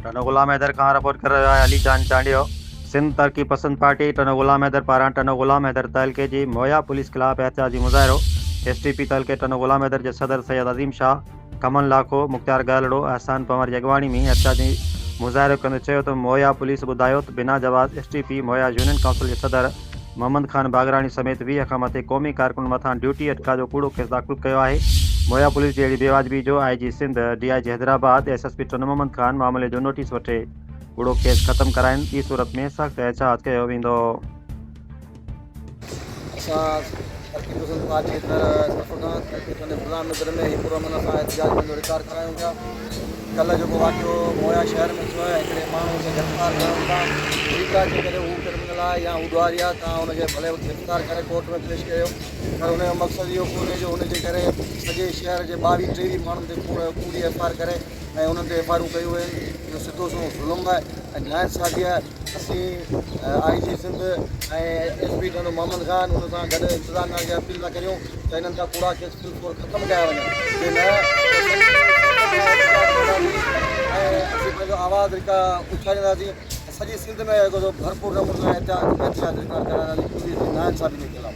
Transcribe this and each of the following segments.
ٽنو غلام حيدر کان رپورٽ ڪري رهيو آهي علي جان چانڊيو. سنڌ ترقي پسند پارٽي ٽنو غلام حيدر پاران ٽنو غلام حيدر تعلقي جي مويا پوليس خلاف احتجاجي مظاهرو، ايس ٽي پي تعلقي ٽنو غلام حيدر جي صدر سيد عظيم شاهه، ڪمن لاکو، مختيار گهرلڙو، احسان پنور جي اڳواڻي ۾ احتجاجي مظاهرو ڪندي چيو ته مويا پوليس ٻڌايو ته بنا جواز ايس ٽي پي مويا يونين ڪائونسل جي صدر، محمد خان باگراڻي سميت ويهه کان مٿي قومي ڪارڪنن مٿان ڊيوٽي اٽڪاء جو ڪوڙو ڪيس داخل ڪيو آهي. مويا پوليس جي اهڙي بي واجبي جو I G Sindh, D I G Hyderabad, S S P ٽن محمد خان معاملي جو نوٽيس وٺي ڪوڙو ڪيس ختم ڪرائين، ٻي صورت ۾ سخت احتجاج ڪيو ويندو. اسان ترقي پسند پارٽي ايندڙ سربراهه ترقي ٿاني غلام نگر ۾ هي پرامن سان احتجاج پنهنجو رڪارڊ ڪرايون پيا. ڪلهه جيڪو واقعو مويا شهر ۾ ٿيو آهي هڪڙي ماڻهو کي گرفتار ڪرڻ کان ٺيڪ آهي جيڪڏهن هو ڪرمنل آهي يا هو ڏوهاري آهي تان هن کي ڀلي گرفتار ڪري ڪورٽ ۾ پيش ڪيو پر هن جو مقصد اهو ڪونهي جو هن جي ڪري سڄي شهر جي ٻاويهه ٽيويهه ماڻهن تي ڪوڙ ڪوڙي ايف آر ڪري ۽ انهن تي ايف آرون ڪيون وين اهو سڌو سنئون ظلم آهي ۽ ناانصافي آهي اسين I G Sindh ۽ S P ڍنڍ محمد خان ان سان گڏ انتظام خان کي اپيل ٿا ڪريون ته انهن کان ڪوڙا ڪيس بالڪل ختم ڪيا وڃن جي نه اسين پنهنجو آواز اڇالينداسين ۽ سڄي سنڌ ۾ ڀرپور نموني سان احتجاج رڪارڊ ڪرائينداسين پوليس جي ناانصافي جي خلاف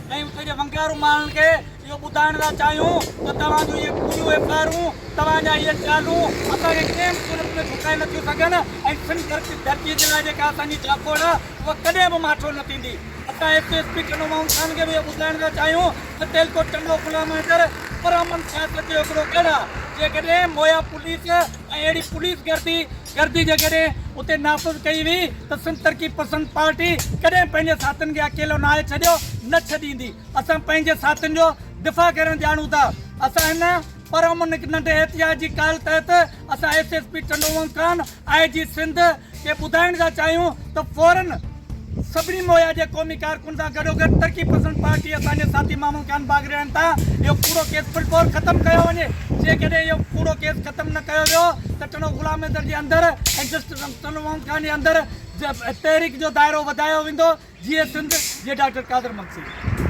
۽ اتي جي ونگيارو ماڻهن کي اهو ٻڌائڻ ٿا چاهيون ته توهان جون اهي پورهيون اهي پهرون، توهان جا اهي خيالون اسان کي ڪنهن به صورت ۾ جهڪائي نه ٿيون سگهن ۽ سنڌ ڌرتيء جي لاء جيڪا اسان جي جاکوڙ آهي اها ڪڏهن به ماٺو نه ٿيندي. اسان ايس ايس پي ٽنڊو ماڻهن خان کي به اهو ٻڌائڻ ٿا چاهيون ته تيلڪوٽ ٽنڊو غلام حيدر پرامن سياست جو هڪڙو گڙهه آهي، جيڪڏهن مويا پوليس ۽ اهڙي پوليس گردي گردي جيڪڏهن اتي نافذ ڪئي ويئي ته سنڌ ترقي پسند پارٽي ڪڏهن پنهنجي ساٿين کي اڪيلو ناهي ڇڏيو نه ڇڏيندي اسان پنهنجي ساٿين جو دفاع ڪرڻ ڄاڻون ٿا اسان هن پرامن هڪ ننڍي احتجاج جي ڪال تحت اسان S S P Tandowang Khan I G Sindh کي ٻڌائڻ ٿا چاهيون ته فورن سڀني مويا جي قومي ڪارڪن سان گڏوگڏ ترقي پسند پارٽي اسان جي ساٿي محمود خان باگرياڻي تان اهو ڪوڙو ڪيس فلفور ختم ڪيو وڃي جيڪڏهن اهو ڪوڙو ڪيس ختم نه ڪيو ويو ته ٽنو غلام حيدر جي اندر ۽ جسٽس ٽنو محمود خان جي اندر تحريڪ جو دائرو وڌايو ويندو جيئي سنڌ جي ڊاڪٽر قادر مگسي.